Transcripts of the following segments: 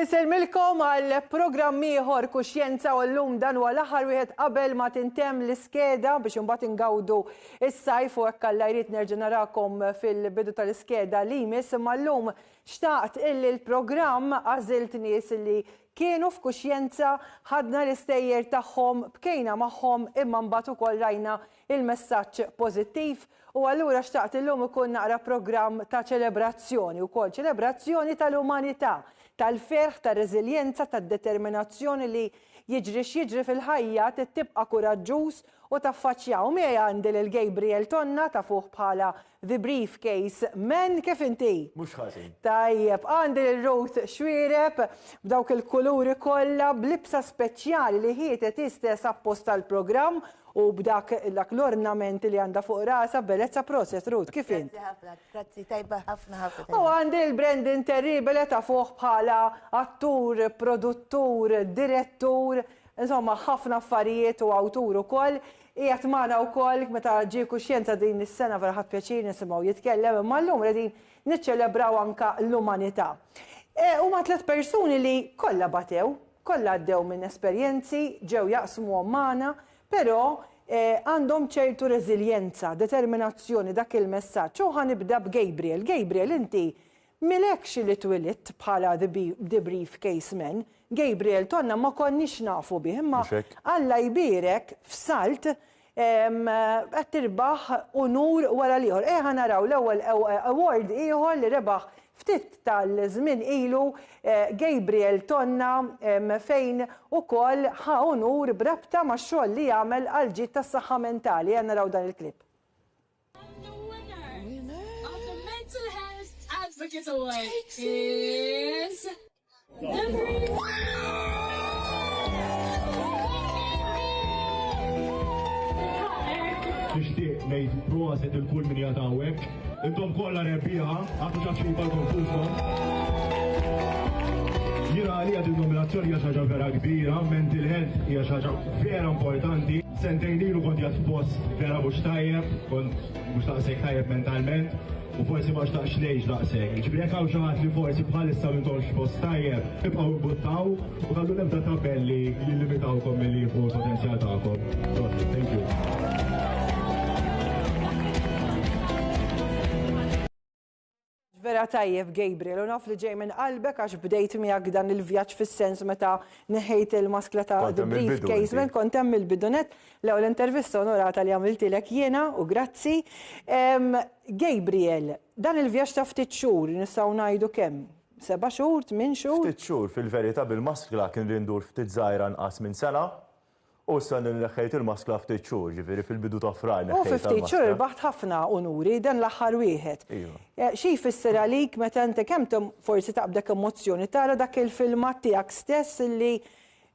Insellmilkom għal programm ieħor Kuxjenza u llum dan huwa l-aħħar wieħed qabel ma tintemm l-iskeda biex imbagħad ingawdu is-sajf u hekk Alla jrid nerġa' narakom fil-bidu tal-iskeda li jmiss imma llum xtaqt illi l-programm għażilt nies li Kienu f'kuxjenza, ħadna l-istejjer tagħhom, bkejna magħhom imma mbagħad ukoll rajna l-messaġġ pożittiv u allura xtaqt illum ikun naqra programm ta' ċelebrazzjoni wkoll, ċelebrazzjoni tal-umanità, tal-ferħ, tar-reżiljenza, tad-determinazzjoni li jiġri x'jiġri fil-ħajja trid tibqa' kuraġġuż u taffaċċja u miegħi għandi lil Gabriel Tonna tafuh bħala The Briefcase Man, kif inti? Mhux ħażin. Tajjeb, għandi lil Ruth Xuereb b'dawk il-kuluri kollha, b'libsa speċjali li ħietet hi stess apposta għall-programm u b'dak dak l-ornament li għandha fuq rasha b'bellezza proset Ruth, kif int? Grazzi ħafna, grazzi tajba ħafna ħafna. U għandi lil Brendan Terribel li tafuh bħala attur, produttur, direttur, insomma ħafna affarijiet u awtur ukoll, Qiegħed magħna wkoll meta ġie kuxjenza din is-sena vera ħadt pjaċir nisimgħu jitkellem imma llum qegħdin niċċelebraw anke l-umanità. Huma tliet persuni li kollha batew, kollha għaddew minn esperjenzi, ġew jaqsmuhom magħna, però għandhom ċertu reżiljenza, determinazzjoni, dak il-messaġġ. U ħa nibda b'Gabriel. Gabriel inti Milekx li twilidt bħala the brief case man, Gabriel Tonna ma konniex nafu bih imma Alla jbierek f'Salt qed tirbaħ unur wara l-ieħor. Ejja naraw l-ewwel award ieħor li rebaħ ftit tal-żmien ilu Gabriel Tonna fejn ukoll ħa unur b'rabta max-xogħol li għamel għall-ġid tas-saħħa mentali. Ejja naraw dan il-clip. Advocate Award is Nishtiq nejt proset il-kull min jatawek. Intom kolla rebbieħa, għatu ċaċċi bħal-konfusom. Jira għalija din nominazzjoni hija xaġa vera kbira, mental health hija xaġa vera importanti. Sentejn ilu kont jgħat f'post vera mhux tajjeb, kont mhux taqsek tajjeb mentalment, u forsi ma xtaqx ngħix daqshekk. Ġifieri jekk hawn xi ħadd li forsi bħalissa m'intomx f'post tajjeb, ibqgħu imbuttaw u kallu nebda tabelli li limitawkom milli jieħu l-potenzjal tagħkom. Thank you. Vera tajjeb Gabriel, u naf li ġej minn qalbek għax bdejt miegħek dan il-vjaġġ fis-sens meta neħejt il-maskla ta' brief casement, kont hemm il-bidunet l-ewwel intervista onorata li għamiltilek jiena u grazzi. Gabriel, dan il-vjaġġ ta' ftit xhur nistgħu ngħidu kemm? Seba' xhur, tmien xhur? Ftit xhur, fil-verità bil-maskla kien li ndur ftit żgħira nqas minn sena, U issa li neħħejt il-maskla ftit xhur, ġifieri fil-bidu ta' Frar neħħejtha l-maskla. U fi ftit xhur irbaħt ħafna unuri, dan l-aħħar wieħed. Iva. Xi jfisser għalik meta inti kemm forsi taqbdek emozzjoni tara dak il-filmat tiegħek stess li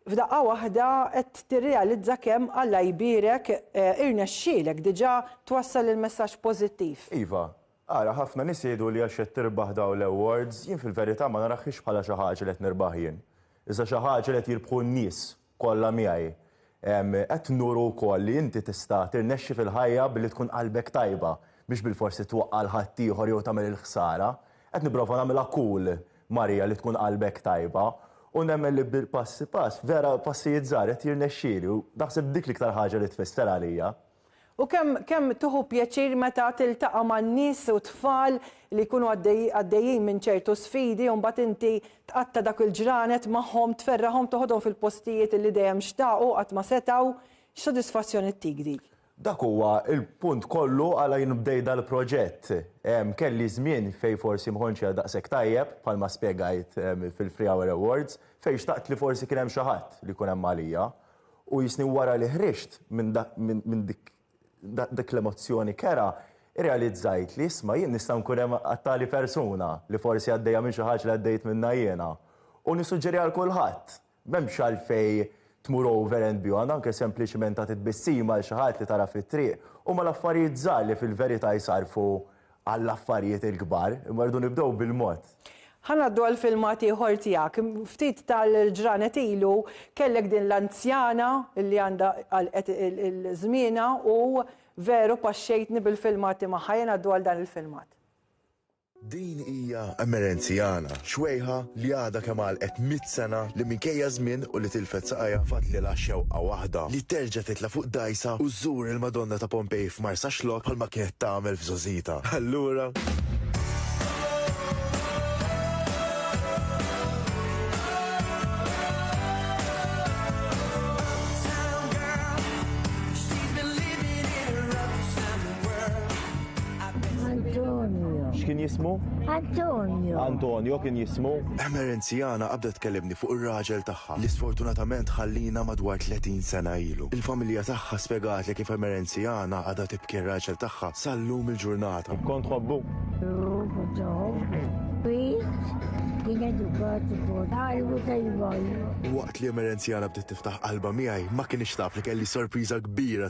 f'daqqa waħda qed tirrealizza kemm Alla jbierek irnexxielek diġà twassal il-messaġġ pożittiv? Iva. Ara, ħafna nies jgħidu li għax qed tirbaħ dawn l-awards, jien fil-verità ma narahiex bħala xi ħaġa li qed nirbaħ jien. Iżda xi ħaġa li qed jirbħu n-nies kollha miegħi. Qed nuru wkoll li inti tista' tirnexxi fil-ħajja billi tkun qalbek tajba, mhix bilfors li twaqqa' 'l ħaddieħor jew tagħmel il-ħsara. Qed nipprova nagħmilha cool, Maria, li tkun qalbek tajba, u nemmen li bil-passi pass, vera passijiet żgħar, qed jirnexxieli u naħseb dik l-iktar ħaġa li tfisser għalija. U kemm, kemm tieħu pjaċir meta tiltaqa' ma' nies u tfal li jkunu għaddejjin minn ċertu sfidi u mbagħad inti tqatta' dak il-ġranet magħhom, tferraħhom, toħodhom fil-postijiet li dejjem xtaqu qatt ma setgħu. X'sodisfazzjon ittik dik? Dak huwa l-punt kollu għala jien bdejt dal-proġett. Kelli żmien fejn forsi ma kontx qiegħed daqshekk tajjeb, bħalma spjegajt fil-Free Hour Awards, fejn xtaqt li forsi kien hemm xi ħadd li jkun hemm għalija. U jisni wara li ħriġt minn dik l-emozzjoni kerha, irrealizzajt li isma' jien nista' nkun hemm għat-tali persuna li forsi għaddejja minn xi ħaġa li għaddejt minnha jiena. U nissuġġeri għal kulħadd, m'hemmx għalfejn tmur over and beyond, anke sempliċement tagħti tbissima lil xi ħadd li tara fit-triq, huma l-affarijiet żgħar li fil-verità jsarrfu għall-affarijiet il-kbar, imma rridu nibdew bil-mod. Ħa ngħaddu għal filmat ieħor tiegħek. Ftit tal-ġranet ilu kellek din l-anzjana li għandha għalqet żmienha u veru paxxejtni bil-filmati magħha. Ejja ngħaddu għal dan il-filmat. Din hija Emerenzjana, xwejħa li għadha kemm għalqet mitt sena, li minkejja ż-żmien u li tilfet saqajha fadlilha xewqa waħda, li terġa' titla' fuq dgħajsa u żżur il-Madonna ta' Pompej f'Marsaxlokk bħalma kienet tagħmel f'żgħożitha. Allura. Antonio. X'kien jismu? Antonio. Antonio kien jismu. Emerenziana qabda tkellimni fuq ir-raġel tagħha li sfortunatament ħallina madwar 30 sena ilu. Il-familja tagħha spjegatli kif Emerenziana għadha tibki r-raġel tagħha sal-lum il-ġurnata. Kont tħobbu? Ju, kont tħobbu. Kien edukat ukoll. Għalbu tajba. Waqt li Emerenziana bdiet tiftaħ qalba miegħi ma kienx taf li kelli sorpriża kbira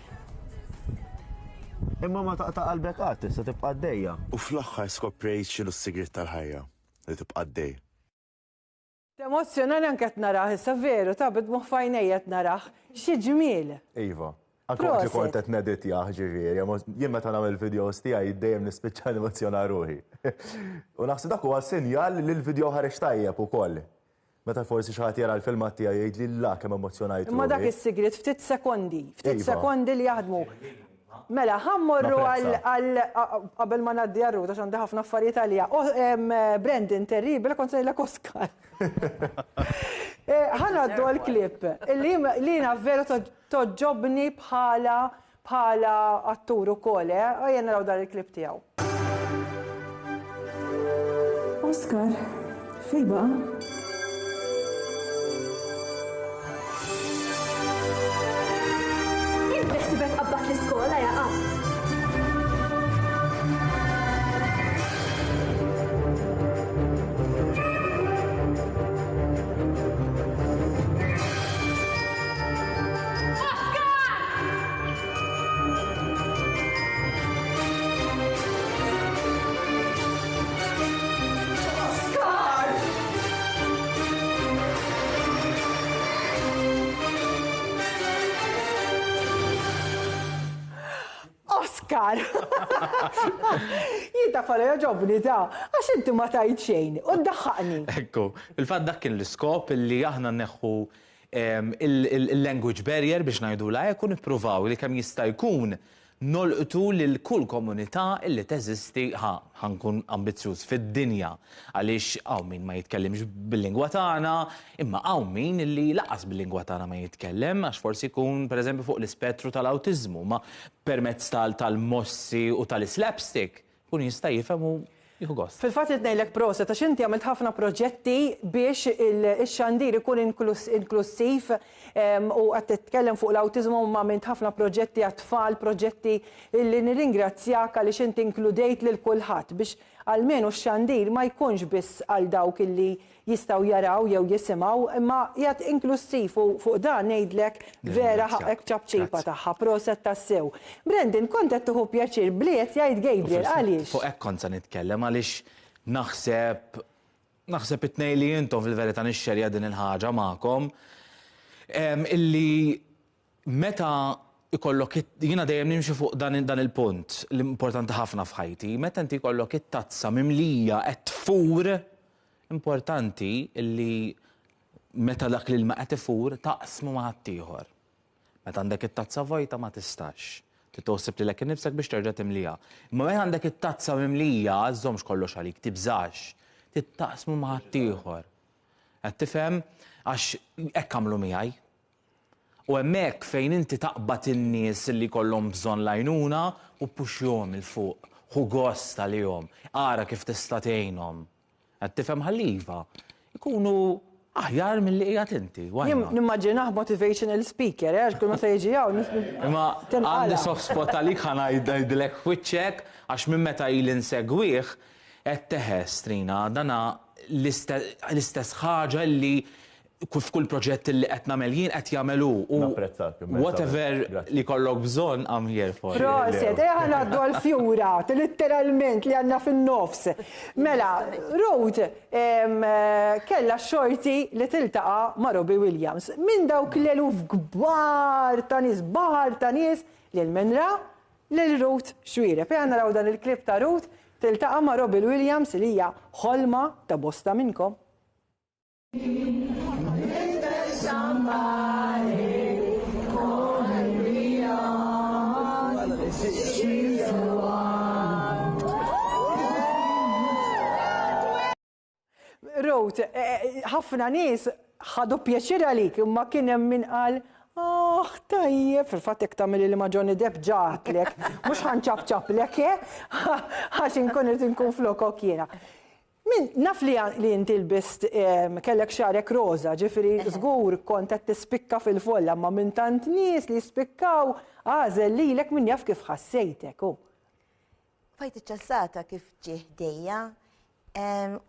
Imma ma taqta' qalbek qatt, tista' tibqa' għaddejja. U fl-aħħar skoprejt x'inhu s-sigriet tal-ħajja, li tibqa' għaddej. Temozzjonani anke qed narah issa, veru, ta' bid-dmugħ f'għajnejja qed narah. Xi ġmiel! Iva. Anke waqt li kont qed neditjah, ġifieri, jien meta nagħmel il-videos tiegħi dejjem nispiċċa nemozzjona ruħi. U naħseb dak huwa sinjal li l-video ħareġ tajjeb ukoll. Meta forsi xi ħadd jara l-filmat tiegħi jgħidli la kemm emozzjonajt ruħi. Imma dak is-sigriet ftit sekondi, ftit sekondi li jaħdmu. Mela, ħa mmorru għal għal qabel ma ngħaddi għal Ruth għax għandi ħafna affarijiet għaliha. Brendan terribile kont se ngħidlek Oscar. Ħa ngħaddu għall-klipp li jiena veru toġġobni bħala bħala attur ukoll eh. Ejja naraw dan il-clip tiegħu. Oscar, fejn baqa'? Oskar! Jien ta' fara joġobni ta' għax inti ma tajt xejn u ddaħħaqni. Ekku, fil-fatt dak kien l-iskop li aħna neħħu il-language barrier biex ngħidulha hekk u nippruvaw li kemm jista' jkun nolqtu lil kull komunità illi teżisti ħa ħa nkun ambizzjuż fid-dinja għaliex hawn min ma jitkellimx bil-lingwa tagħna imma hawn min illi lanqas bil-lingwa tagħna ma jitkellem għax forsi jkun pereżempju fuq l-ispettru tal-awtiżmu ma permezz tal-mossi u tal-islapstick Kun jista' jifhem u jieħu gost. Fil-fatt irid ngħidlek proset għax inti għamilt ħafna proġetti biex ix-xandir ikun inklussiv u qed titkellem fuq l-awtiżmu imma għamilt ħafna proġetti għat-tfal, proġetti li nirringrazzjak għaliex inti inkludejt lil kulħadd biex almenu x-xandir ma jkunx biss għal dawk li jistgħu jaraw jew jisimgħu imma qiegħed inklussiv u fuq dan ngħidlek vera ħaqqek b'ċapċipa tagħha, proset tassew. Brendan kont qed tieħu pjaċir b'li qed jgħid Gabriel għaliex? Fuq hekk kont se nitkellem għaliex naħseb naħseb it-tnejn li intom fil-verità nixxerja din il-ħaġa magħkom illi Meta jkollok it jiena dejjem nimxi fuq dan dan il-punt li importanti ħafna f'ħajti, meta inti jkollok it-tazza mimlija qed tfur, importanti li meta dak l-ilma qed ifur taqsmu ma' ħaddieħor. Meta għandek it-tazza vojta ma tistax. Trid toħsib lilek innifsek biex terġa' timliha. Imma meta għandek it-tazza mimlija, żżommx kollox għalik, tibżax. Trid taqsmu ma' ħaddieħor. Qed tifhem? Għax hekk għamlu miegħi. U hemmhekk fejn inti taqbad in-nies li jkollhom bżonn l-għajnuna u ppuxxjhom 'il fuq, ħu gost għalihom, ara kif tista' tgħinhom. Qed tifhem ħalli iva, ikunu aħjar milli qiegħed inti, why not? Nimmaġinah motivational speaker, eh, għax kull meta jiġi hawn Imma għandi soft spot għalik ħa ngħidlek f'wiċċek għax minn meta ili nsegwih qed teħes, Trina, dana l-istess ħaġa li f'kull proġett li qed nagħmel jien qed jagħmel hu. Napprezzak immensament. Whatever li jkollok bżonn I'm here for you. Proset, ejja ngħaddu għall-fjura, litteralment li għandna fin-nofs. Mela, Ruth kellha x-xorti li tiltaqa' ma' Robbie Williams. Minn dawk l-eluf kbar ta' nies, baħar ta' nies, lil min ra? Lil Ruth Xuereb. Ejja naraw dan il-clip ta' Ruth tiltaqa' ma' Robbie Williams li hija ħolma ta' bosta minnkom. Rose, eh, eh, ħafna nies ħadu pjaċir għalik, imma kien hemm min qal Ah, tajjeb, fil-fatt jek tamil li ma Johnny Depp ġatlek, mux ħanċab ċaplek, eh? għax inkun irrid inkun flokok jiena. Min, naf li li inti lbist kellek xagħrek roża, ġifieri żgur kont qed tispikka fil-folla, imma minn tant nies li jispikkaw għażel lilek min jaf kif ħassejtek, hu. Fajt iċ-ċassata kif ġie ħdejja,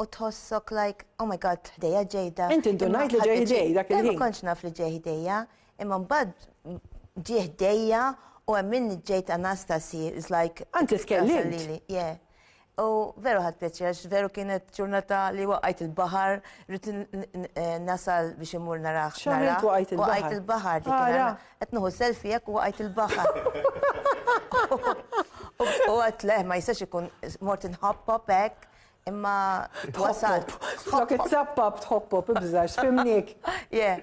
u tħossok like, oh my God, ħdejja ġejda. Inti ndunajt li ġej ħdej dak il-ħin. Ma kontx naf li ġej ħdejja, imma mbagħad ġie ħdejja u hemm min ġejt Anastasi, is like. Anzi tkellimt. Yeah. U veru ħad pjaċir, għax veru kienet ġurnata li waqajt il-bahar, rrit nasal biex imur naraħ. Xaħritu waqajt il-bahar. Waqajt il-bahar, li kien għetnuħu selfijek u waqajt il-bahar. U għat leħ, ma jistax ikun mort nħoppop ek, imma twasal. Flok it-sappab tħoppop, ibżax, fimnik. Yeah.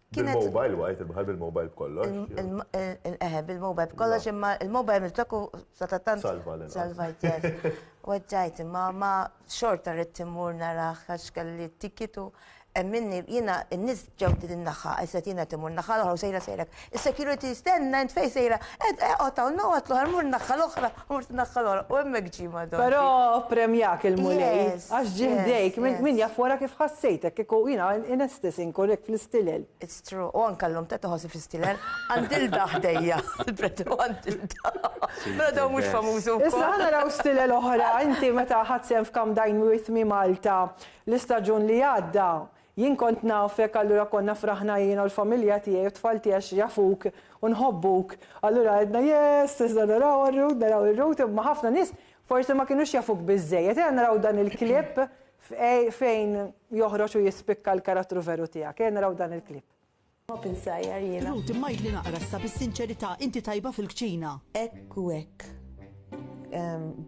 Kienet mobile wajt il-bħal bil-mobile b'kollox. Eħe, bil-mobile b'kollox, imma il-mobile mill-tokku sa ta' tant. Salvajt. Salvajt, Weġġajt, imma ma xorta rrit timur naraħ għax kelli t-tikitu. Minni, jina, n-nis ġew din naħħa, għajset jina timur naħħa l-oħra u sejra sejra. Il-security stenna, int fej sejra, ed eqot għaw, no għatlu għarmur naħħa l-oħra. Mort tnaħħa l-għorq u hemmhekk ġie ma' Don. Però ppremjak il-Mulej għax ġie ħdejk, min jaf wara kif ħassejtek, kieku jiena inestess inkun hekk fl-istilel. It's true, u anke llum tant iħossni fl-istilel, għand Ilda ħdejja, il-preti u għand Ilda. Però dawn mhux famużi wkoll. Issa ħa naraw stilel oħra, inti meta ħadt sehem f'Come Dine With Me Malta l-istaġun li għadda, Jien kont nafek allura konna fraħna jiena u l-familja tiegħi u t-tfal tiegħi għax jafuk u nħobbuk. Allura għedna yes isna naraw għar-route naraw ir-route imma ħafna nies forsi ma kienux jafuk biżżejjed. Ejja naraw dan il-clip fejn joħroġ u jispikka l-karattru veru tiegħek. Ejja naraw dan il-clip. Ħobb insajjar jiena. Ruth, imma għidli naqra issa bis-sinċerità, inti tajba fil-kċina? Hekk u hekk.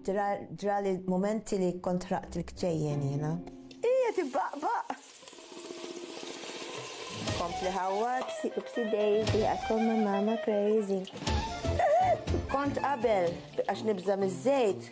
Ġrali mumenti li kont ħraqt il-kċejjen jiena. Hi qed ibbaqbaq! Kompli ħawwad, sipsi Daisy, għakom ma' mama crazy. Kont qabel, għax nibża' miż-żejt,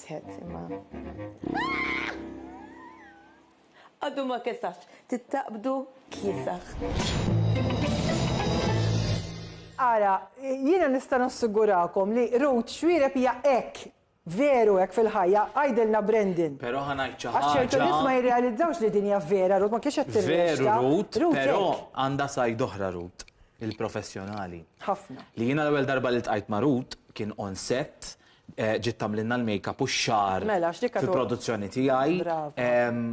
Tħed imma. Għaddu ma kesax, tittaqbdu kiesax. Ara, jiena nista' nassigurakom li Ruth Xwireb hija hekk Veru hekk fil-ħajja, għajdilna Brendan. Però ħa ngħid xi ħaġa. Għax ċertu nies ma jirrealizzawx li din hija vera, Rut ma kienx qed Veru Rut, però għandha sajd oħra Rut, il-professjonali. Ħafna. Li jiena l-ewwel darba li tqajt ma' Rut kien on set Ġiet tagħmlilna l-makeup u x-xagħar Mela, x'dik għadu- fil-produzzjoni tiegħi. Brava. Ehm,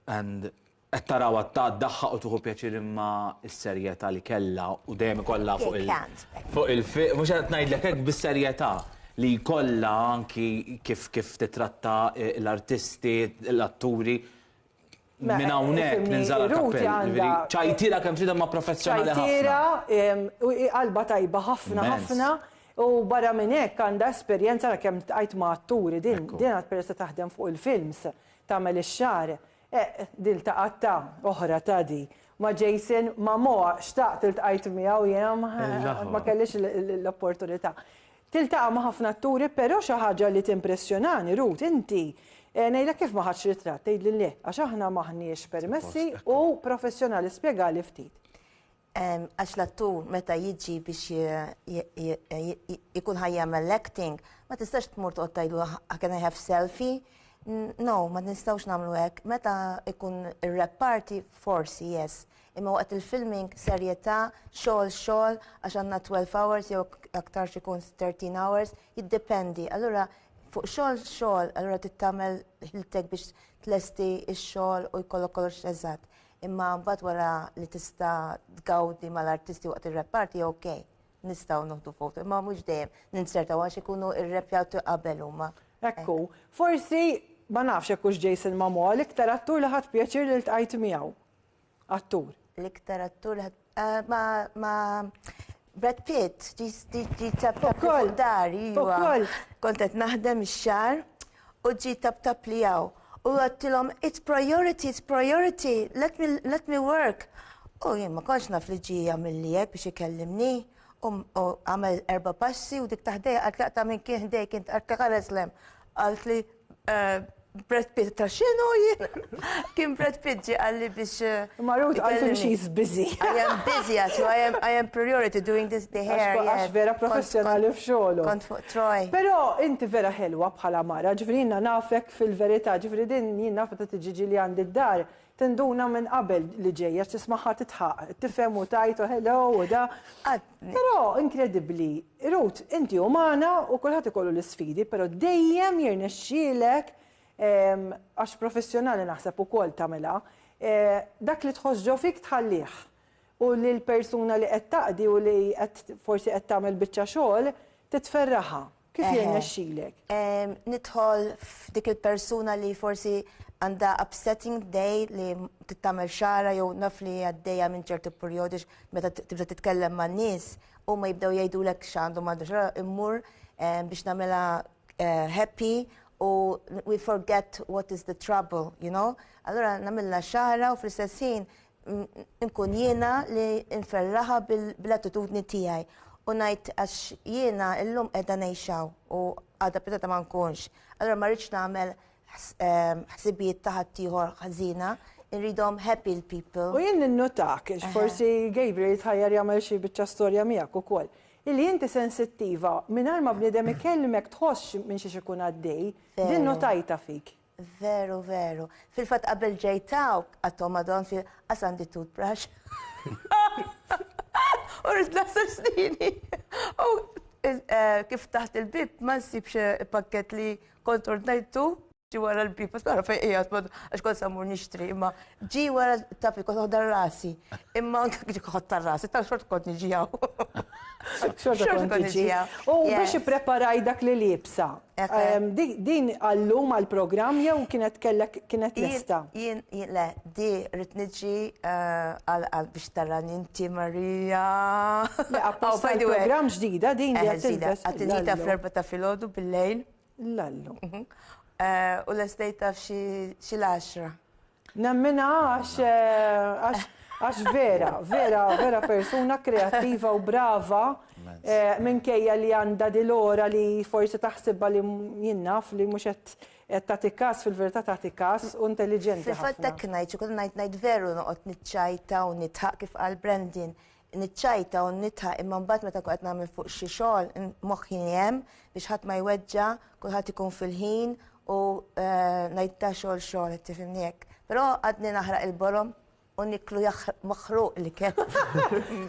and qed tarawha ta' ddaħħaq u tieħu pjaċir imma s-serjetà li kellha u dejjem ikollha fuq il- Pikant. fuq il-fi, mhux qed ngħidlek hekk bis-serjetà li jkollha anki kif kif titratta l-artisti, l-atturi, Minn hawnhekk ninżala l-kappell, jiġifieri ċajtiera kemm trid imma professjonali ħafna. Ċajtiera, qalba tajba ħafna ħafna u barra minn hekk għandha esperjenza għal kemm iltqajt ma' atturi din għad peress li taħdem fuq il-films tagħmel ix-xagħar. Din ltaqgħet ta' oħra ta' di ma' Jason Momoa, xtaqt iltqajt miegħu jiena ma kellix l-opportunità. Tiltaqa' ma' ħafna atturi però xi ħaġa li timpressjonani, Ruth, inti, ngħidlek kif ma ħadtx ritratt, tgħidli le, għax aħna m'aħniex permessi u professjonali, spjegali ftit. Għax l-attur meta jiġi biex ikun ħa jagħmel l-acting, ma tistax tmur toqgħod tgħidlu can I have selfie? No, ma nistgħux nagħmlu hekk. Meta jkun ir-rap party, forsi yes. Imma waqt il-filming serjetà, xogħol xogħol għax għandna 12 hours jew aktarx ikun 13 hours, jiddependi. Allura fuq xogħol xogħol, allura trid tagħmel ħiltek biex tlesti x-xogħol u jkollok kollox eżatt. Imma mbagħad wara li tista' tgawdi mal-artisti waqt ir-reparti ok, nistgħu noħdu foto, imma mhux dejjem ninsertaw għax ikunu irrepjaw qabel huma. Ekku, forsi ma nafx hekk hux Jason Momoa l-iktar attur li ħadt pjaċir li ltqajt miegħu. Attur. L-iktar attur eh, ma ma Brad Pitt, ġi tap tap fuq dar, jiwa. Kontet naħdem ix-xar u ġi tap tap li jaw. U għattilom, it's priority, it's priority, let me, let me work. U jien ma konx naf li ġi għamil li jek biex ikellimni. U għamil erba passi u dik taħdej għatlaqta minn kien ħdej kien għatlaqta għal-eslem. Qalt li Brad Pitt ta' xinu jien? Kien Brad Pitt ġi għalli biex. Eh, Ma Ruth għalli she's busy. I am busy għax, I am, I am priority doing this the hair. Għax vera professjonali f'xogħlu. Kont fuq Troy. Però inti vera ħelwa bħala mara, ġifri jiena nafek fil-verità, ġifri din jien nafet ta' tiġiġi li għandi d-dar, Tinduna minn qabel li ġej għax tismagħha titħaq, tifhem u tgħid u hello u da. Però inkredibbli, Ruth, inti umana u kulħadd ikollu l-isfidi, però dejjem jirnexxielek ehm, għax professjonali naħseb ukoll tagħmilha, eh, dak li tħoss ġo fik tħallih. U li l-persuna li qed taqdi u li qed forsi qed tagħmel biċċa xogħol titferraha. Kif jirnexxilek? Nidħol f'dik il-persuna li forsi għandha upsetting day li tittamel xara jew naf li għaddejja minn ċertu perjodi meta tibda titkellem ma' nies u ma jibdew jgħidulek x'għandu m'għandu xara immur biex nagħmela eh, happy u we forget what is the trouble, you know? Allora nagħmilha xara u fl-istess ħin nkun jiena li nferraħa bl-attitudni tiegħi u ngħid għax jiena llum qiegħda ngħixaw u għadha pitata ma nkunx. Allora ma rridx nagħmel ehm, ħsibijiet ta' ħaddieħor ħażina, irridhom happy l-people. U jien ninnotak, forsi Gabriel jitħajjar jagħmel xi biċċa storja miegħek ukoll. Illi inti sensittiva, mingħajr ma bniedem ikellmek tħoss minn xi ikun għaddej, din notajta fik. Veru, veru. Fil-fatt qabel ġejt hawn għattom madon fi qas għandi toothbrush. U rrid naħseb snini. U eh, kif taħt il-bib ma nsibx eh, pakket li kont ordnajtu ġi wara l-bib, għas nara fejn qiegħed, għax kont samur nixtri, imma Ġi wara taf li kont noħda rasi. Imma anke ġi ħodta rasi, tal xort kont niġi hawn. Xorta Xorta kont kont niġi niġi. hawn. U biex Yes. ippreparaj dak li libsa. Ekk. em, di- Din għallum għall-programm jew kienet kellek kienet Jien- lesta? Jien, jien, le, di rrit niġi eh, għal għal biex tarani inti Marija. Le, Oh, apposta by the way. l-programm ġdida din li Eh, qed ġdida. tilbes Għad nġita fl-għallu. erba ta' filgħodu bil-lejl. Lallu. Mhm. Eh, u l-estate taf xi l-10. Nemmina għax eh, għax vera, vera, vera persuna kreativa u brava eh, minkejja li għanda dil-ora li forsi taħsibba li jinnaf li muxet tagħti kas fil-verità tagħti kas u intelligenti. Fil-fatt tek ngħid, ikun ngħid ngħid veru noqgħod niċċajta u nitħaq kif għal Brandin. niċċajta u nitħaq imma mbagħad meta qed nagħmel fuq xi xogħol moħħi hemm biex ħadd ma jweġġa, kulħadd ikun fil-ħin u eh, ngħid ta' xogħol xogħol qed tifhimni hekk. Però għadni naħraq il-borom u niklu maħruq li kien.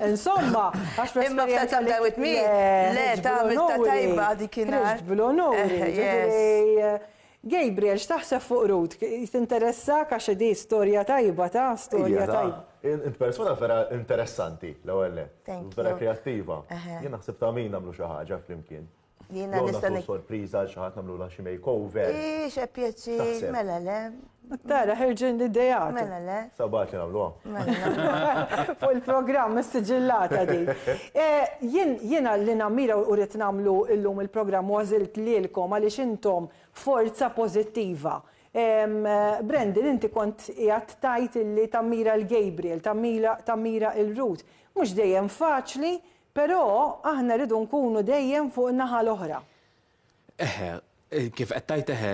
Insomma, għax Imma f'ta' ta' with me, le ta' ta' tajba di kien. Bil-onur, Gabriel x'taħseb fuq Ruth? Tinteressak għax hi di storja tajba ta? Storja tajba. Int persuna vera interessanti l-ewwel nett. Thank you. Vera kreattiva. Jien naħseb ta' min nagħmlu xi ħaġa flimkien. Jiena nista' ngħid. Jew nagħmlu sorpriża għal xi ħadd nagħmlulha xi makeover. Hi xe pjaċir, mela le. Tara ħerġin l-ideat. Mela le. Sabgħat li nagħmluha. Fuq il-programm issiġillata din. Jiena li nammira u rrid nagħmlu llum il-programm u għażilt lilkom għaliex intom forza pożittiva. Brendon inti kont qiegħed tgħid illi tammira 'l Gabriel, tammira 'l Ruth. Mhux dejjem faċli, però aħna rridu nkunu dejjem fuq in-naħa l-oħra. Eħe, kif qed tgħid eħe,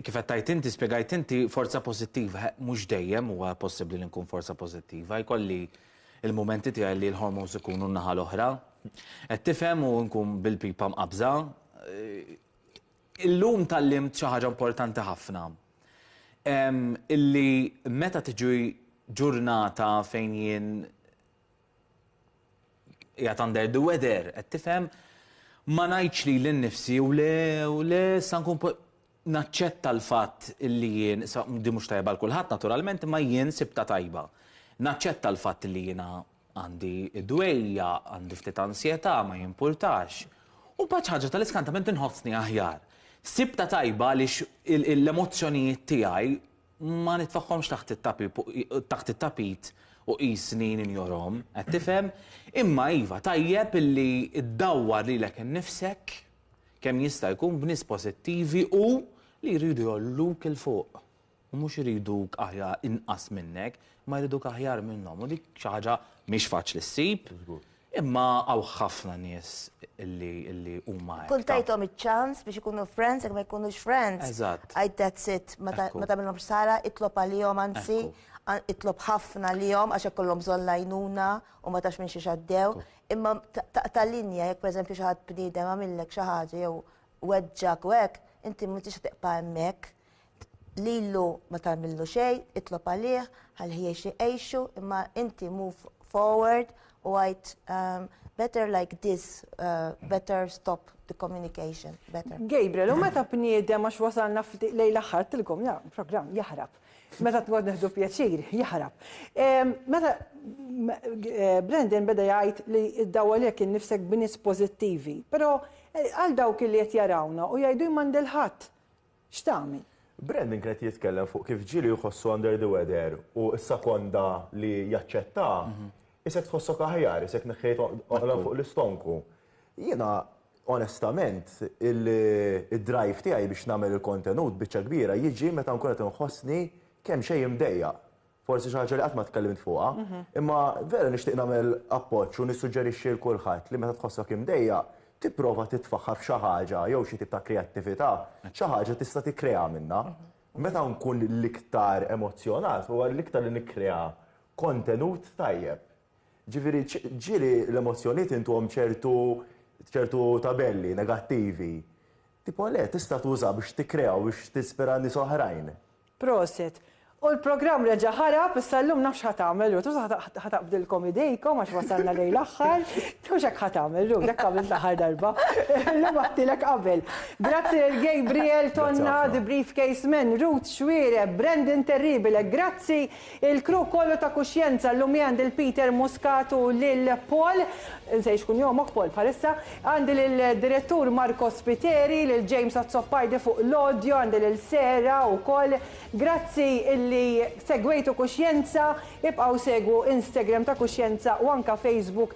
kif qed tgħid inti, spjegajt inti forza pożittiva, mhux dejjem huwa possibbli li nkun forza pożittiva, jkolli il-mumenti tiegħi li l-hormones ikunu n-naħa l-oħra. Qed tifhem u nkun bil-pipa mqabża. Illum tgħallimt xi ħaġa importanti ħafna. Illi meta tiġi ġurnata fejn jien Qiegħed under the weather, qed tifhem? Ma ngħidx lili nnifsi u le u le sa nkun naċċetta l-fatt li jien, di mhux tajba għal kulħadd naturalment, imma jien sibta tajba. Naċċetta l-fatt li jiena għandi dwejja, għandi ftit ansjetà, ma jimpurtax. U bħal ħaġa tal-iskantament inħossni aħjar. Sibta tajba għaliex l-emozzjonijiet tiegħi Ma nitfagħhomx taħt it-tapip taħt it-tapit u qisni ninjorhom, qed tifhem? Imma iva, tajjeb illi ddawwar lilek innifsek kemm jista' jkun b'nies pożittivi u li jridu jgħolluk 'il fuq. U mhux iriduk aħjar inqas minnek, imma jriduk aħjar minnhom. U dik xi ħaġa mhix faċli ssib. Imma hawn ħafna nies illi illi huma hekk. Tkun tajthom iċ-ċans biex ikunu friends jekk ma jkunux friends. Eżatt. Għid that's it. Ma ta ma tagħmilhomx ħsara, itlob għalihom anzi. Ekku. Itlob ħafna għalihom għax ikollhom bżonn l-għajnuna u ma tafx minn xiex għaddew. Ekku. Imma taqta' linja jekk pereżempju xi ħadd bniedem għamillek xi ħaġa jew weġġgħek u hekk, inti m'intix se tibqa' hemmhekk. Lilu ma tagħmillu xejn, itlob għalih, ħalli jgħix jgħixu, imma inti move forward u għajt um, better like this, uh, better stop the communication, better. Gabriel, u meta bniedem għax wasalna lejn l-aħħar tilkom, ja, program jaħrab. Meta tgħod neħdu pjaċir, jaħrab. Meta eh, Brendan beda jgħid li id-dawa li kien nifsek b'nies pożittivi, però eh, għal dawk li qed jarawna u jgħidu jmandilħat x'tagħmel? Brandon kien qed jitkellem fuq kif ġieli jħossu under the weather u s-sekonda li jaċċetta, isek tħossok aħjar, isek neħħejt oqla fuq l-istonku. Jiena onestament id-drive tiegħi biex nagħmel il-kontenut biċċa kbira jiġi meta nkun qed inħossni kemm xejn imdejjaq. Forsi xi ħaġa li qatt ma tkellimt fuqha, imma vera nixtieq nagħmel appoġġ u nissuġġerixxi lil kulħadd li meta tħossok imdejjaq, tipprova titfaħħar f'xi ħaġa jew xi tip ta' kreattività, xi ħaġa tista' tikkrea minnha. Meta nkun l-iktar emozzjonat huwa l-iktar li nikkrea kontenut tajjeb. Ġifieri ġieli l-emozzjonijiet intuhom ċertu ċertu tabelli negattivi. Tipo le, tista' tuża biex tikkrea u biex tispira nies oħrajn. Prosit. U l-programm reġa' ħarab, issa llum nafx ħa tagħmel Ruth, mhux ħa taqbdilkom idejkom għax wasalna lejn l-aħħar, mhux hekk ħa tagħmel Ruth, hekk għamilt l-aħħar darba. Illum għedtilek qabel. Grazzi lil Gabriel Tonna, The Briefcase Men, Ruth Xuereb, Brandon Terribile, grazzi Il-crew kollu ta' kuxjenza llum hi għandi 'l Peter Muscat u lil Paul, insejr x'kun jomok Paul bħalissa, għandi lil Direttur Marco Spiteri, lil James Azzopardi fuq l-audio, għandi lil Sarah ukoll. Grazzi illi segwejtu kuxjenza, ibqgħu segwu Instagram ta' kuxjenza u anka Facebook.